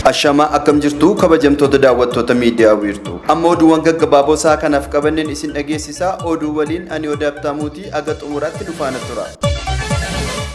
Ashamaa akkam jirtu kabajamtoota daawwattoota miidiyaa wiirtuu. Amma oduuwwan gaggabaaboo isaa kanaaf qabanneen isin dhageessisaa oduu waliin ani odaaf taamuutii aga xumuraatti dhufaana tura.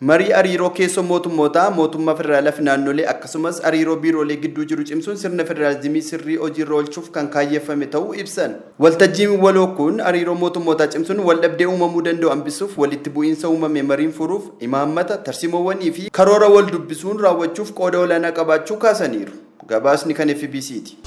Marii ariiroo keessoo mootummootaa, mootummaa federaalaa fi naannolee akkasumas ariiroo biiroolee gidduu jiru cimsuun sirna federaalizimii sirrii hojiirra oolchuuf kan kaayyeffame ta'uu ibsan. Waltajjiin waloo kun ariiroo mootummootaa cimsuun waldhabdee uumamuu danda'u hambisuuf, walitti bu'iinsa uumame mariin furuuf, imaammata, tarsiimoowwanii fi karoora waldubbisuun raawwachuuf qooda olaanaa qabaachuu kaasaniiru. Gabaasni kan fbc ti.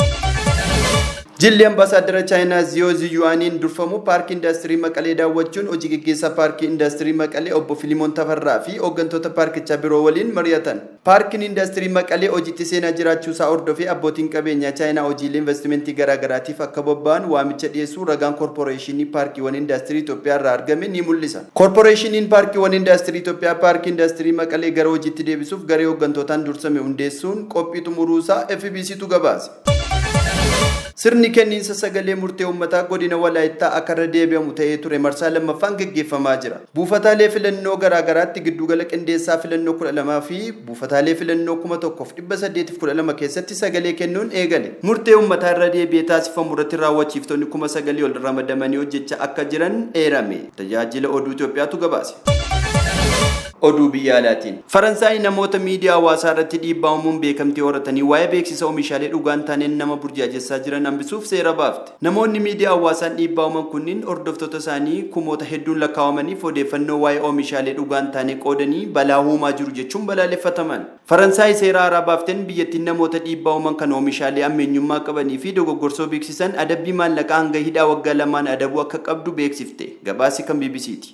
Jilli Ambaasaaddara Chaayinaa Ziyoo Ziyu'aaniin durfamu Paarkii Indaastirii Maqalee daawwachuun Hojii Geggeessaa Paarkii Indaastirii Maqalee Obbo Filimoon Tafarraa fi hooggantoota paarkichaa biroo waliin mari'atan. Paarkiin Indaastirii Maqalee hojiitti seenaa jiraachuusaa hordofee abbootiin qabeenyaa Chaayinaa hojiilee invastimentii garaagaraatiif akka bobba'an waamicha dhiyeessuu ragaan Korporeeshinii Paarkiiwwan Indaastirii Itoophiyaarraa argame ni mul'isa. Korporeeshiniin Paarkiiwwan Indaastirii Itoophiyaa Paarkii Indaastirii Maqalee gara hojiitti deebisuuf garee hooggantootaan dursame hundeessuun qophii xumuruu isaa FBCtu gabaase. Sirni kenniinsa sagalee murtee uummataa godina Walaayittaa akka irra deebi'amu ta'ee ture marsaa 2ffaan geggeeffamaa jira. Buufataalee filannoo garaa garaatti gidduugala qindeessaa filannoo 12 fi buufataalee filannoo 1812 keessatti sagalee kennuun eegale. Murtee uummataa irra deebi'ee taasifamu irratti raawwachiiftonni 9,000 ol ramadamanii hojjechaa akka jiran eerame. Tajaajila Oduu Itoophiyaatu gabaase. Oduu biyya alaatiin. Faransaay namoota miidiyaa hawaasaa irratti dhiibbaa uumuun beekamtii horatanii waa'ee beeksisa oomishaalee dhugaa hin taaneen nama burjaajessaa jiran hambisuuf seera baafte. Namoonni miidiyaa hawaasaan dhiibbaa uuman kunniin hordoftoota isaanii kumoota hedduun lakkaawamaniif odeeffannoo waa'ee oomishaalee dhugaa hin taanee qoodanii balaa uumaa jiru jechuun balaaleffataman. Faransaay seera haaraa baaften biyyattiin namoota dhiibbaa uuman kan oomishaalee ammeenyummaa qabanii fi dogoggorsoo beeksisan adabbii maallaqaa hanga hidhaa waggaa lamaan adabuu akka qabdu beeksifte. Gabaasi kan bbc ti.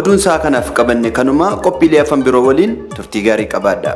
Oduun sa'a kanaaf qabanne kanuma qophiilee afan biroo waliin turtii gaarii qabaadha.